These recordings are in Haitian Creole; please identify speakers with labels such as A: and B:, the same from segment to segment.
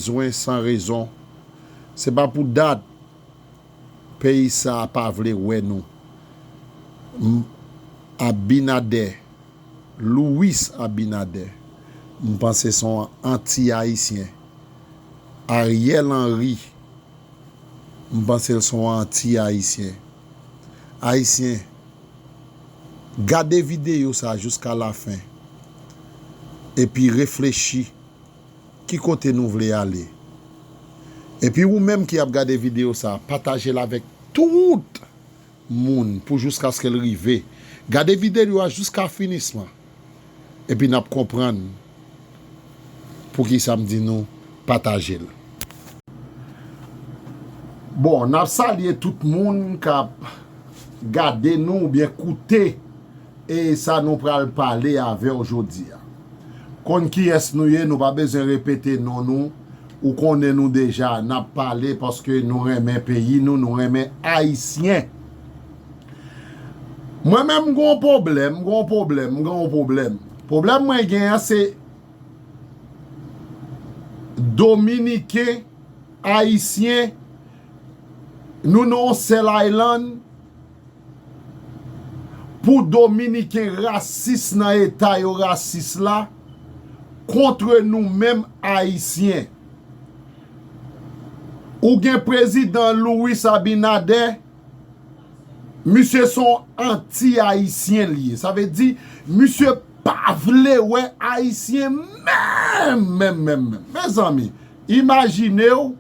A: Bzwen san rezon. Se pa pou dat peyi sa pa vle wè nou. M. Abinader, Louis Abinader, m panse s on anti ayisyen. Ariel Henry, m panse l s on anti ayisyen. Ayisyen, gade videyo sa jouska lafen epi reflechi. Ki kote nou vle ale. Epi ou menm ki ap gade video sa patajel avèk tout Moun pou jouskaskel rive gade vidéo a jouska finisman epi nap konprann poukisa m di nou patajel. Bon nap salye tout moun kap gade nou oubyen koute e sa nou pral pale avèw jodia. Konn kiyès nou ye nou pa bezwen repete non nou ou konnen nou deja nap pale paske nou renmen peyi nou nou renmen ayisyen mwen menm m gon poblèm m gon poblèm m gon poblèm poblèm mwen gen an se dominiken ayisyen nou nan yon sèl aylann. Pou dominiken rasis nan eta yo rasis la kontre nou menm ayisyen. Ou gen prezidan Louis Abinader, misye se yon anti ayisyen li ye. Sa vle di misye pa vle wè ayisyen menm menm menm menm. Mezanmi, imajinew.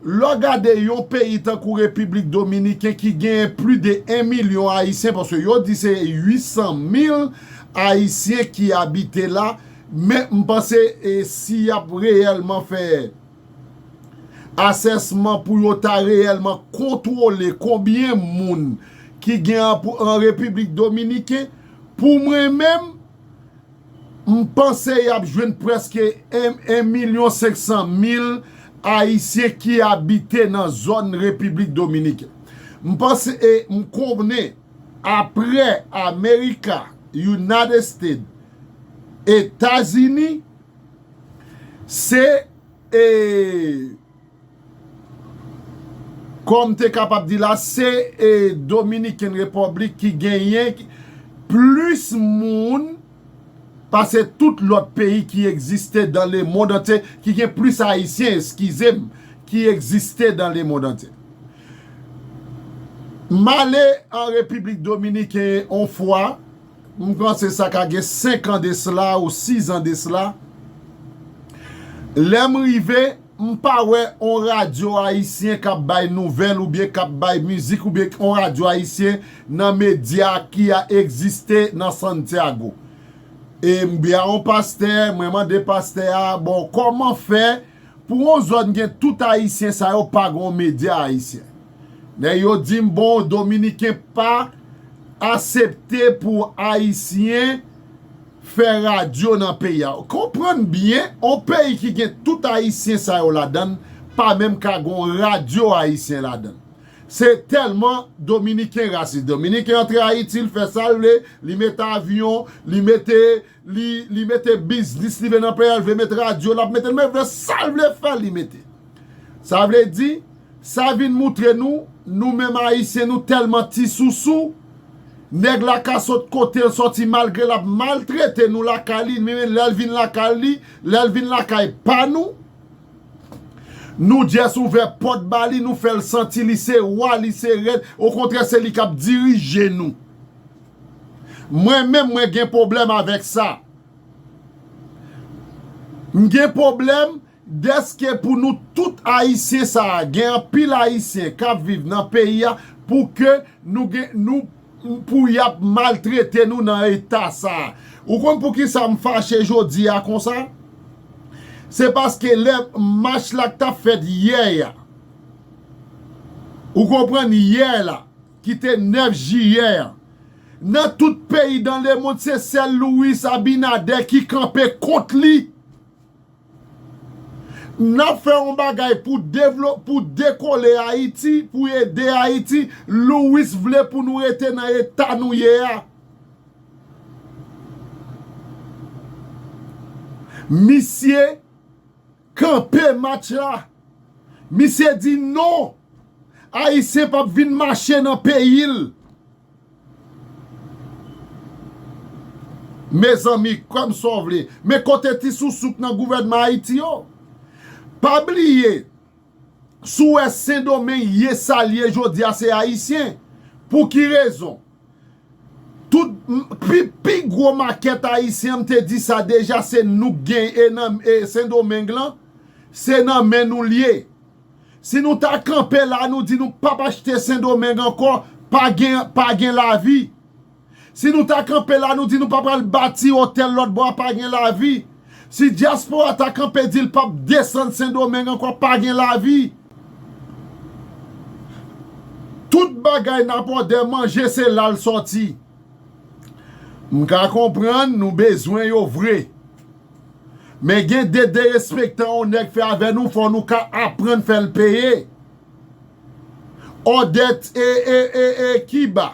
A: Lè w gade yon peyi tankou Repiblik Dominiken ki genyen pli de 1 milyon Ayisyen, paske yo di se 800 mil Ayisyen ki abite la, men m panse si y ap reyèlman fè asèsman pou yo ta reyèlman kontwole konbyen moun ki gen an Repiblik Dominiken, pou mwen menm, M panse y ap jwenn prèske 1 milyon 500 mil Ayisyen ki abite nan zòn Repiblik Dominiken. M panse e m konnen apre Amerika, United States, Etazini, se e. Kòm te kapab di la, se Dominiken Repòblik ki genyen plis moun pase tout lòt peyi ki egziste dan lemond antye, ki gen plis Ayisyen, eskize m, ki egziste dan lemond antye. M ale an Repiblik Dominiken on fwa. M panse sa ka gen 5 an de sla ou 6 an de sla. Lè m rive, m pa wè on radyo ayisyen k ap bay nouvèl oubyen k ap bay mizik oubyen on radyo ayisyen nan medya ki a egziste nan Santiago. E m bi a on pastè, mwen mande pastè a, bon kòman fè pou on zòn gen tout ayisyen sa yo pa gen on medya ayisyen? Nèg yo dim bon dominiken pa asepte pou ayisyen fè radyo nan peyi a. Konprann byen on peyi ki gen tout ayisyen sa yo ladann pa menm ka gon radyo ayisyen ladann. Se tèlman dominiken rasis. Dominiken antre ayiti li fè sal vle, li mete avyon, li mete Li mete biznis li vle nan peyi a, li vle met radyo l ap mete nan peyi a, li vle sa l vle fè li mete. Sa vle di, sa vin moutre nou, nou menm Ayisyen nou tèlman ti sousou, nèg la ka sot kote l sòti malgre l ap maltrete nou lakay li, men lè l vin lakay li, lè l vin lakay pa nou, nou just ouvè pòt ba li, nou fè l santi li se wa, li se rèn, okontrè se li k ap dirije nou. Mwen menm mwen gen pwoblèm avèk sa. M gen pwoblèm dèske pou nou tout Ayisyen sa a, gen anpil Ayisyen k ap viv nan peyi a pou ke nou gen, nou, pou y ap maltrete nou nan eta sa a. Ou konn pou ki sa m fache jodi a konsa? Se paske lè mach la k t ap fèt yè a, ou konprann, yè la, ki te 9 jiyè an. Nan tout peyi dan lemond se sèl Louis Abinader ki kanpe kont li. N ap fè yon bagay pou devlo, pou dekole Ayiti, pou ede Ayiti, Louis vle pou nou rete nan eta nou ye a. Misye. Kanpe match la! Misye di non! Ayisyen p ap vin mache nan peyi l! Mezanmi, kwè m sa w vle, men kote ti sousou k nan gouvènman Ayiti yo? Pa bliye, si w wè Sendomeng ye sa l ye jodi a se Ayisyen. Pou ki rezon? Tout pi gwo makèt ayisyen m te di sa deja se nou k gen e nan sendomeng lan se nan men nou l ye si nou ta kanpe la nou di nou pap achte sendomeng ankò pa gen lavi si nou ta kanpe la nou di nou pa pral bati otèl lòtbò a pa gen lavi Si diaspora ta kanpe di l pap desann sendomeng ankò pa gen lavi tout bagay nap òdè manje se la l sòti m ka konprann nou bezwen yo vre men gen de derespektan on nèg fè avè nou fò nou ka aprann fè l peye òdè t e e e e kiba.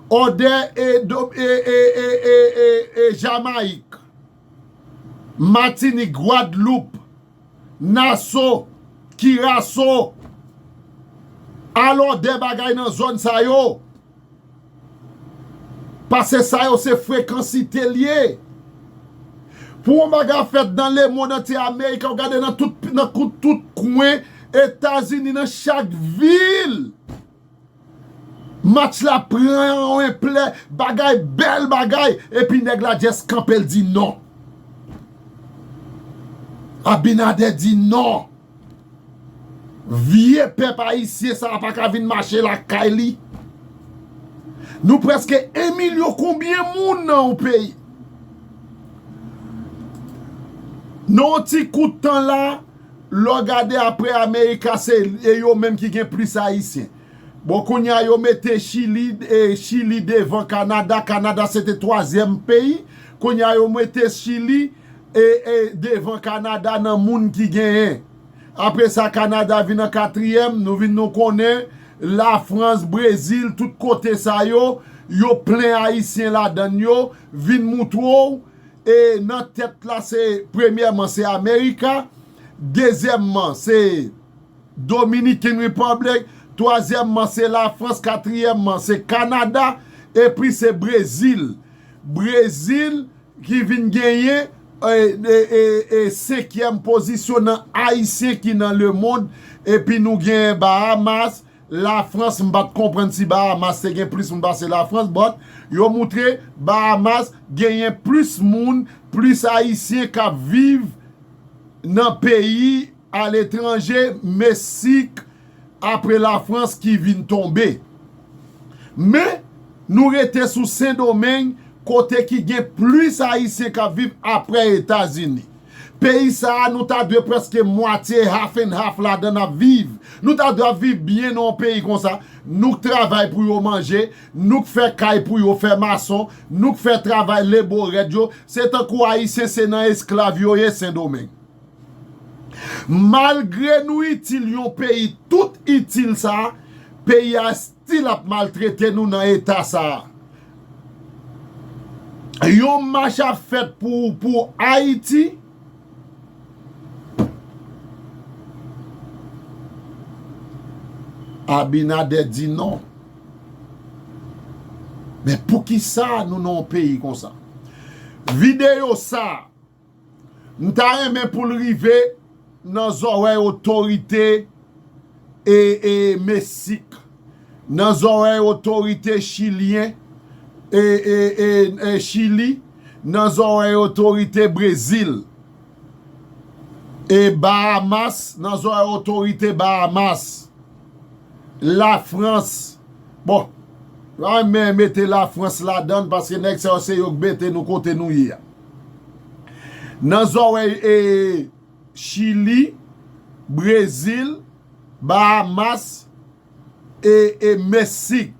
A: Odè e e Jamayik, Matinik, Gwadloup, Naso, Kiraso, al odè bagay nan zòn sa yo, pase sa yo se frekansite l ye. Pou yon bagay fèt nan lemonn antye Ameriken, w gade nan tout kwen Etazini, nan chak vil. Match la pran yon enplè bagay bèl bagay epi nèg la just kanpel di non. Abinader di non. Vye pèp ayisyen sa pa ka vin mache lakay li. Nou preske 1 milyon konbyen moun nan yon peyi. Nan yon ti kout tan la. Lè w gade aprè America se e yo menm ki gen plis ayisyen. Bon kounye a yo mete chili e chili devan Canada, Canada se te twazyèm peyi, kounye a yo mete chili e e devan Canada nan moun ki genyen. Apre sa Canada vin an katriyèm, nou vin nou konnen la France, Brésil tout kote sa yo, yo plen ayisyen ladann yo, vin moutre w E nan tèt la se premyèman se America, dezyèmman se Dominican Republic, twazyèmman se la France, katriyèmman se Canada epi se Brazil. Brazil ki vin genyen e senkyèm pozisyon nan ayisyen ki nan le mond epi nou gen Bahamas La France m pat konprann si Bahamas te gen plis moun pase la France but yo moutre Bahamas genyen plis moun plis ayisyen kap viv nan peyi a letranje mesik apre la France ki vin tonbe men nou rete sou sendomeng kote ki gen plis ayisyen kap viv apre etazini. Peyi sa a nou ta dwe preske mwatye half and half ladan n ap viv. Nou ta dwe ap viv byen nan yon peyi konsa, nou k travay pou yo manje, nou k fè kay pou yo fè mason, nou k fè travay lebo rèd yo, se tankou Ayisyen se nan esklav yo ye Sendomeng. Malgre nou itil yon peyi tout itil sa a, peyi a. Si lap maltrete nou nan eta sa. Yon mach ap fet pou pou ayiti. Abinader di non. Men poukisa nou nan yon peyi konsa. Video sa. M ta renmen pou l rive nan zòrèy otorite mesik, nan zòrèy otorite chilyen, Chili, nan zòrèy otorite Brezil, Bahamas, nan zòrèy otorite Bahamas, Lafrans, bon, m ta renmen mete Lafrans ladan l paske nèg sa yo se yo k mete nou kote nou ye a. Nan zòrèy e Chili, Brezil, Bahamas e e Mesik.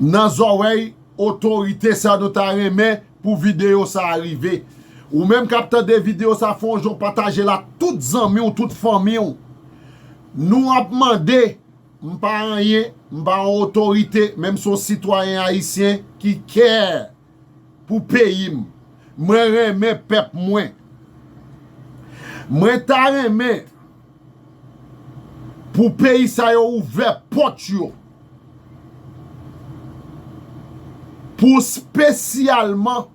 A: Nan zòrèy otorite sa nou ta renmen pou video sa a rive. Ou menm kap tande video sa fè yon jan w pataje l ak tout zanmi w tout fanmi w. Nou ap mande. M pa anyen, m pa yon otorite men m se yon sitwayen ayisyen ki care pou peyi m. Mwen renmen pèp mwen. Mwen ta renmen pou peyi sa yo ouvè pòt yo pou spesyalman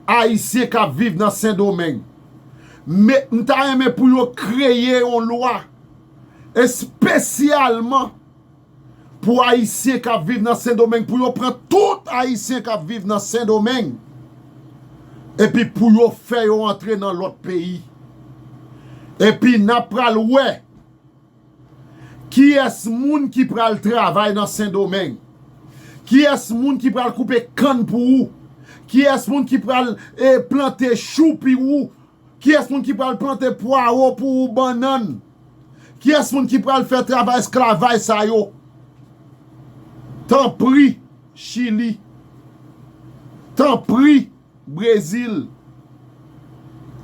A: ayisyen k ap viv nan Sendomeng. M ta renmen pou yo kreye yon lwa. Espesyalman pou Ayisyen k ap viv nan Sendomeng, pou yo pran tout Ayisyen k ap viv nan Sendomeng epi pou yo fè yo antre nan lòt peyi. Epi n ap pral wè kiyès moun ki pral travay nan Sendomeng, kiyès moun ki pral koupe kann pou ou, kiyès moun ki pral plante chou pi ou Kiyès moun ki pral plante pwaro pou ou bannann? Kiyès moun ki pral fè travay esklavaj sa yo? Tanpri, Chili. Tanpri, Brezil.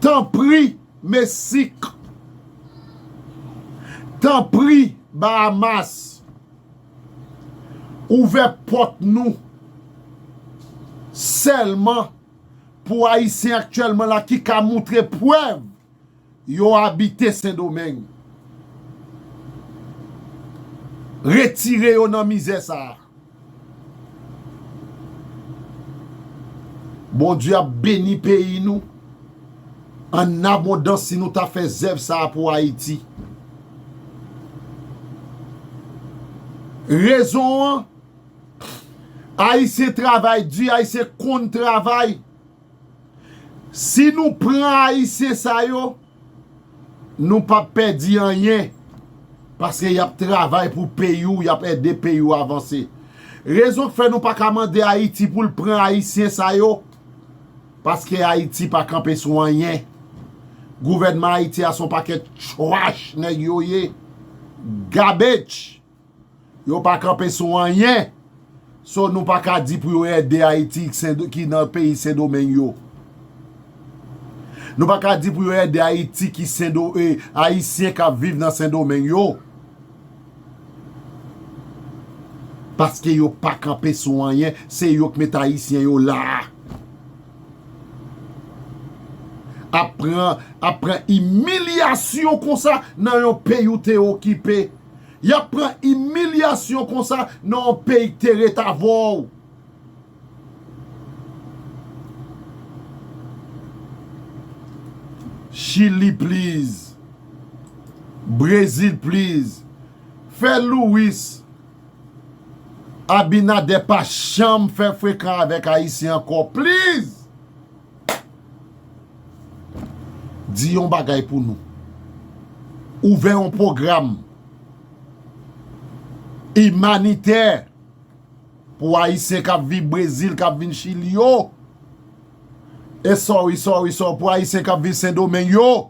A: Tanpri, Mesik. Tanpri, Bahamas. Ouvè pòt nou sèlman. Pou Ayisyen aktyèlman la ki ka moutre prèv yo abite Sendomeng. Retire yo nan mizè sa a. Bondye ap beni peyi nou an abondans si nou ta fè zèv sa a pou Ayiti. Rezon an. Ayisyen travay di, ayisyen konn travay. Si nou pran ayisyen sa yo, nou pa pèdi anyen. Paske y ap travay pou peyi ou, y ap ede peyi ou avanse. Rezon k fè nou pa ka mande Ayiti pou l pran ayisyen sa yo, paske Ayiti pa kanpe sou anyen. Gouvènman Ayiti a se yon pakèt chwach nèg yo ye. Gabetch! Yo pa kanpe sou anyen. So nou pa ka di pou yo ede Ayiti ki nan peyi Sendomeng yo. Nou pa ka di pou yo ede Ayiti ki Sendo e Ayisyen k ap viv nan Sendomeng yo. Paske yo pa kanpe sou anyen. Se yo k met Ayisyen yo la a. Ap pran imilyasyon konsa nan yon peyi ou te okipe. Yap pran imilyasyon konsa nan yon peyi k te ret avè w. Chili please. Brezil please. Fè Louis Abinader pa janm fè frekan avèk Ayisyen ankò please. Di yon bagay pou nou. Ouvè yon pwogram imanitè pou Ayisyen k ap viv Brezil, k ap vin Chili yo. E sorry, sorry, sorry pou Ayisyen k ap viv Sendomeng yo.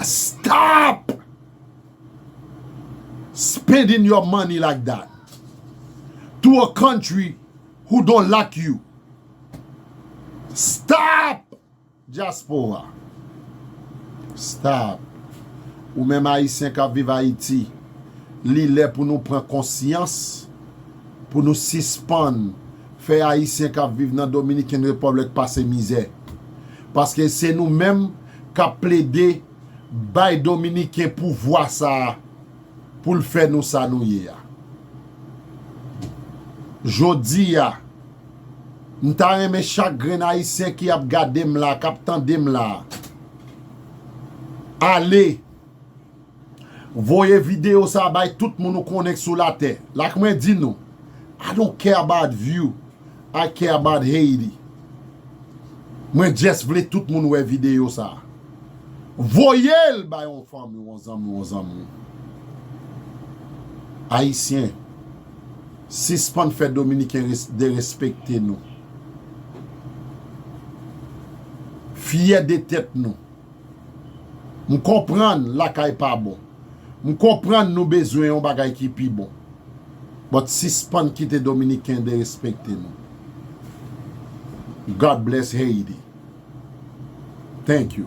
A: Stop spending your money like that to a country who don't like you stop diaspora stop ou menm ayisyen kap viv ayiti li lè pou nou pran konsyans pou nou sispann Fè Ayisyen k ap viv nan Dominican Republic pase mizè. Paske se nou menm k ap plede bay Dominiken pouvwa sa a pou l fè nou sa nou ye a. Jodi a, m ta renmen chak grenn Ayisyen ki ap gade m la a, k ap tande m la a, ale. Voye video sa bay tout moun ou konnen k sou latè la k mwen di nou I don't care about you I care about Haiti mwen just vle tout moun wè video sa voyel bay yon fanmi w yon zanmi w yon zanmi w Ayisyen sispann fè dominiken derespekte nou fyè de tèt nou. M konprann lakay pa bon. M konprann nou bezwen yon bagay ki pi bon. But sispann kite dominiken derespekte nou. God bless Haiti. Thank you.